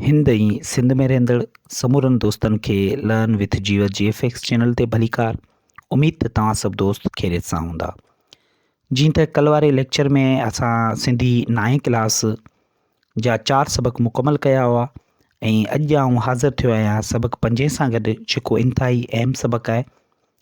هند ۽ سنڌ ۾ رهندڙ سمورن دوستن کي learn with Jiyo G F X channel تي ڀليڪار اميد ته توهان سڀ دوست خيريت سان هوندا جيئن ته ڪل واري ليڪچر ۾ اسان سنڌي نائين ڪلاس جا چار سبق مڪمل ڪيا هئا ۽ اڄ آئون حاضر ٿيو آهيان سبق پنجين سان گڏ جيڪو انتهائي اهم سبق آهي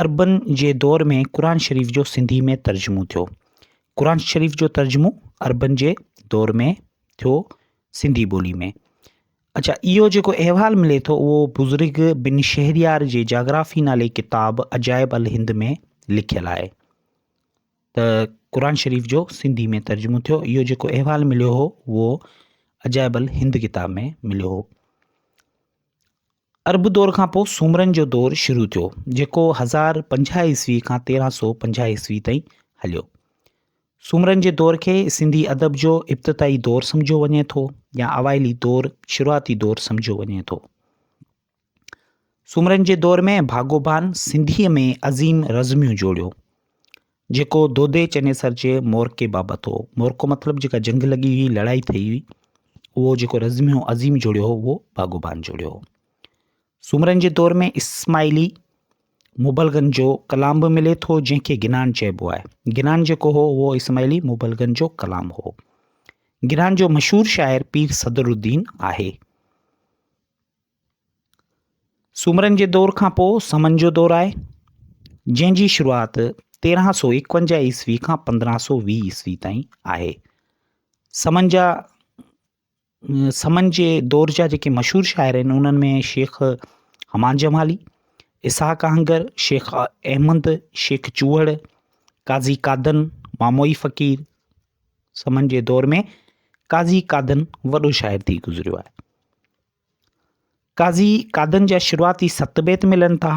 عربن جي دور ۾ قرآن شريف جو سنڌي ۾ ترجمو ٿيو. قرآن شريف جو ترجمو عربن جي دور ۾ ٿيو سنڌي ٻولي ۾. اڇا اهو جيڪو احوال ملي ٿو اهو بزرگ بن شهريار جي جاگرافي نالي ڪتاب عجائب الهند ۾ لکيل آهي ته قرآن شريف جو سنڌي ۾ ترجمو ٿيو اهو جيڪو احوال مليو هو اهو عجائب الهند ڪتاب ۾ مليو هو عرب دور کان پوء سومرن جو دور شروع ٿيو جيڪو هزار پنجاهه عيسوي کان تيرهن سو پنجاهه عيسوي تائين هليو. سومرن جي دور کي سنڌي ادب جو ابتدائي دور سمجهيو وڃي ٿو يا اوائلي دور، شروعاتي دور، سمجهيو وڃي ٿو. سومرن جي دور ۾ ڀاڳوڀان سنڌيء ۾ عظيم رزميون جوڙيو. جيڪو دودي چنيسر جي مورڪي بابت هو. مورڪو مطلب جيڪا جنگ لڳي هئي، لڙائي ٿئي هئي، اهو جيڪو رزميو عظيم جوڙيو هو، اهو باگوبان جوڙيو هو. سومرن جي دور ۾ اسماعيلي مبلغن جو ڪلام به ملي ٿو، جنهن کي گنان چئبو آهي. گنان جيڪو هو، اهو اسماعيلي مبلغن جو ڪلام هو. گنان جو مشهور شاعر پير صدرالدين آهي. سومرن جي دور کان پوء سمن جو دور آهي، جنهن جي شروعات تيرهن سو ايڪونجاهه عيسوي کان پندرهن سو ويهه عيسوي تائين آهي. سمن جا سمن جي دور جا جيڪي مشهور شاعر آهن انهن ۾ شيخ حمان جمالي اسحاق آهنگر شيخ احمد شيخ چوهڙ قاضي قادن ماموئي فقير سمن جي دور ۾ قاضي قادن وڏو شاعر ٿي گذريو آهي قاضي قادن جا شروعاتي ست بيت ملن ٿا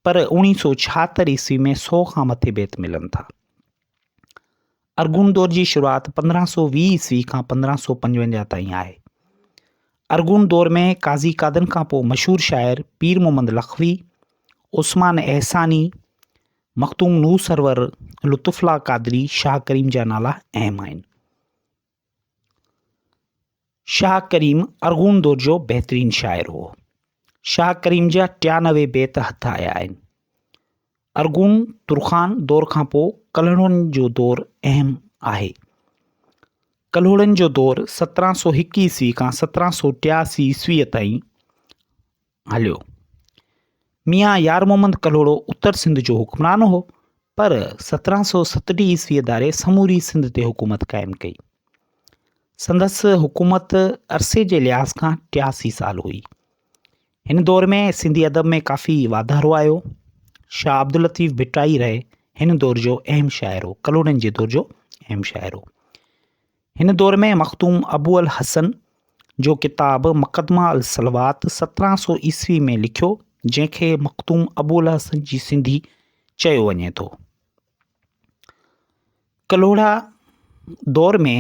پر اوڻيهه سؤ ڇاهتر عيسوي ۾ سؤ کان مٿي بيت ملن ٿا. ارغون دور جي شروعات پندرهن سؤ ويهه عيسوي کان پندرهن سؤ پنجونجاهه تائين آهي. ارغون دور ۾ قاضي قادن کان پوء مشهور شاعر پير محمد لخوي، عثمان احساني، مخدوم نوح سرور، لطف الله قادري، شاهه ڪريم جا نالا اهم آهن. شاهه ڪريم ارغون دور جو بهترين شاعر هو شاهه ڪريم جا ٽيانوي بيت هٿ آيا آهن ارغون ترخان دور کان پوء ڪلهوڙن جو دور اهم آهي ڪلهوڙن جو دور سترهن سو هڪ عيسوي کان سترهن سو ٽياسي عيسويء تائين هليو. ميان يار محمد ڪلهوڙو اتر سنڌ جو حڪمران هو، پر سترهن سؤ ستٽيهه عيسويء ڌاري سموري سنڌ تي حڪومت قائم ڪئي. سندس حڪومت عرصي جي لحاظ کان ٽياسي سال هئي. هن دور ۾ سنڌي ادب ۾ ڪافي واڌارو آيو. شاهه عبداللطيف ڀٽائي رهي هن دور جو اهم شاعر هو، ڪلهوڙن جي دور جو اهم شاعر هو. هن دور ۾ مخدوم ابو الحسن جو ڪتاب مقدمه الصلوات سترهن سو عيسوي ۾ لکيو جنهن کي مخدوم ابو الحسن جي سنڌي چيو وڃي ٿو ڪلهوڙا دور ۾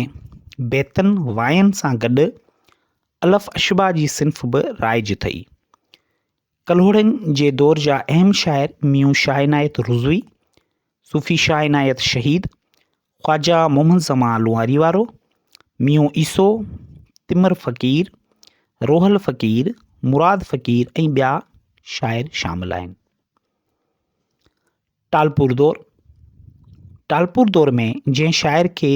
بيتن واين سان گڏ الف اشبا جي صنف به رائج ٿئي ڪلهوڙن جي دور جا اهم شاعر ميون شاهه عنايت رضوي صوفي شاهه عنايت شهيد خواجه محمد زمان لوهاري وارو، ميون عيسو، تمر فقير، روحل فقير، مراد فقير ۽ ٻيا شاعر شامل آهن. ٽالپور دور ٽالپور دور ۾ جنهن شاعر کي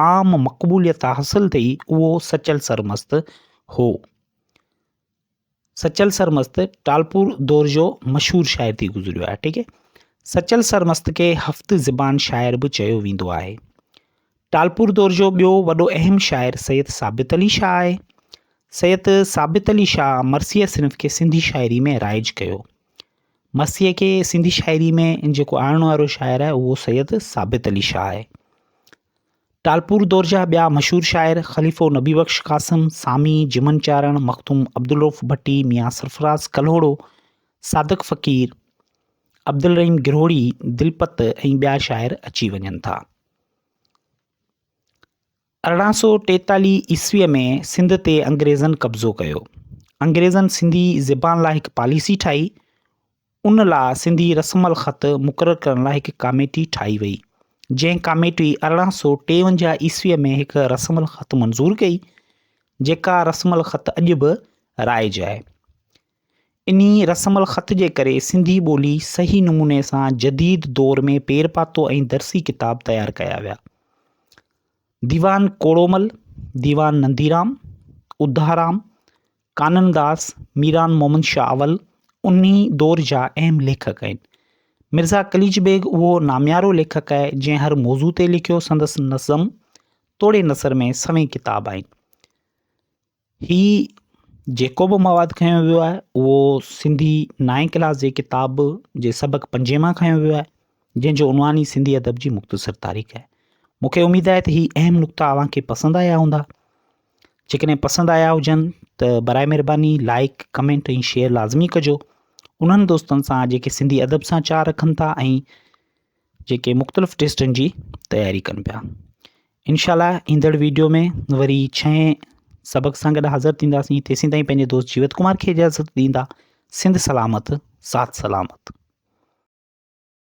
عام مقبوليت حاصل ٿي اهو سچل سرمست هو سچل سرمست ٽالپور دور جو مشهور شاعر ٿي گذريو آهي ٺيڪ آهي سچل سرمست کي هفت زبان شاعر به چيو ويندو آهي ٽالپور دور جو ٻيو وڏو اهم شاعر سيد ثابت علي شاهه آهي سيد ثابت علي شاهه مرثيه صنف کي سنڌي شاعري ۾ رائج ڪيو مرثيه کي سنڌي شاعري ۾ جيڪو آڻڻ وارو شاعر آهي اهو سيد ثابت علي شاهه آهي ٽالپور دور جا ٻيا مشهور شاعر خليفو نبي بخش قاسم، سامي، جمن چارڻ، مخدوم عبدالرؤف ڀٽي، ميان سرفراز ڪلهوڙو، صادق فقير، عبدالرحيم گرهوڙي، دلپت ۽ ٻيا شاعر اچي وڃن ٿا. ارڙهن سؤ ٽيتاليهه عيسويء ۾ سنڌ تي انگريزن قبضو ڪيو. انگريزن سنڌي زبان لاء هڪ پاليسي ٺاهي، ان لاء سنڌي رسم الخط مقرر ڪرڻ لاء هڪ ڪاميٽي ٺاهي وئي، جنهن ڪاميٽي ارڙهن سؤ ٽيونجاهه عيسويء ۾ هڪ رسم الخط منظور ڪئي، جيڪا رسم الخط اڄ به رائج آهي. انهي رسم الخط جي ڪري سنڌي ٻولي صحيح نموني سان جديد دور ۾ پير پاتو ۽ درسي ڪتاب تيار ڪيا ويا. ديوان ڪوڙومل، ديوان ننديرام، اڌارام، ڪانن داس، ميران مومن شاهه اول انهي دور جا اهم ليکڪ آهن. مرزا قليچ بيگ اهو ناميارو ليکڪ آهي جنهن هر موضوع تي لکيو سندس نظم توڙي نثر ۾ سوين ڪتاب آهن. هي جيڪو به مواد کنيو ويو آهي اهو سنڌي نائين ڪلاس جي ڪتاب جي سبق پنجين مان کنيو ويو آهي جنهن جو عنوان ئي سنڌي ادب جي مختصر تاريخ آهي. مون کي اميد آهي ته هي اهم نقطا اوهان کي پسند آيا هوندا. جيڪڏهن پسند آيا هجن ته برائي مهرباني لائڪ ڪمينٽ ۽ شيئر لازمي ڪجو انهن دوستن سان جيڪي سنڌي ادب سان چار رکن ٿا ۽ جيڪي مختلف ٽيسٽن جي تياري ڪن پيا انشاء الله ايندڙ ويڊيو ۾ وري ڇهين سبق سان گڏ حاضر ٿينداسين تيسين تائين پنهنجي دوست جيوت ڪمار کي اجازت ڏيندا سنڌ سلامت سات سلامت